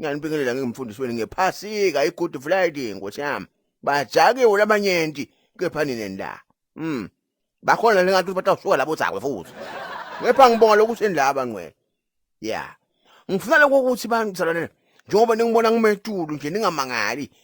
Ngiyanibingelela ngingumfundisi wenu ngephasika i-good friday nkosi yami bajakiwe labanyenti kepha nini la mm bakhona lengathi batawusuka labo zakwe futhi ngepha ngibonga lokuthi endaba ngcwele ya ngifuna lokho ukuthi bangisalonela njengoba ningibona ngimetulu nje ningamangali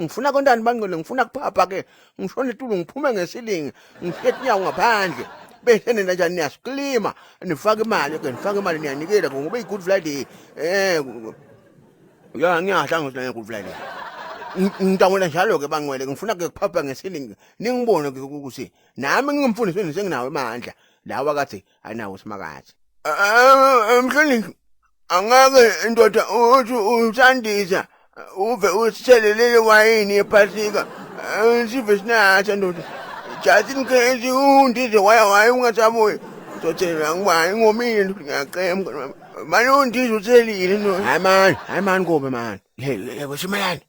ngifuna kontani bangcwele ngifuna kuphapha ke ngishona etulu ngiphume ngesilingi ngihleti inyawo ngaphandle bese nina njani niyasiklima nifake imali ke nifake imali niyanikela ngoba i-good friday eh ya ngiyahla ngithi nge-good friday ngidangula njalo-ke bangcwele ngifuna-ke kuphapha ngesilingi ningibone-ke ukuthi nami ngingumfundisi wenu senginawo emandla lawa kathi anawo uSimakade mhlonishwa angake indoda uthi usandiza uve usithelelele wayini ephasika sive sinatha ndoda just in case undize waya waye ungasabuyi uzothelela ngubani ngomile ndoda ngiyacemka manje undize uthelile ndoda hayi mani hayi mani kobe mani yekwesumelani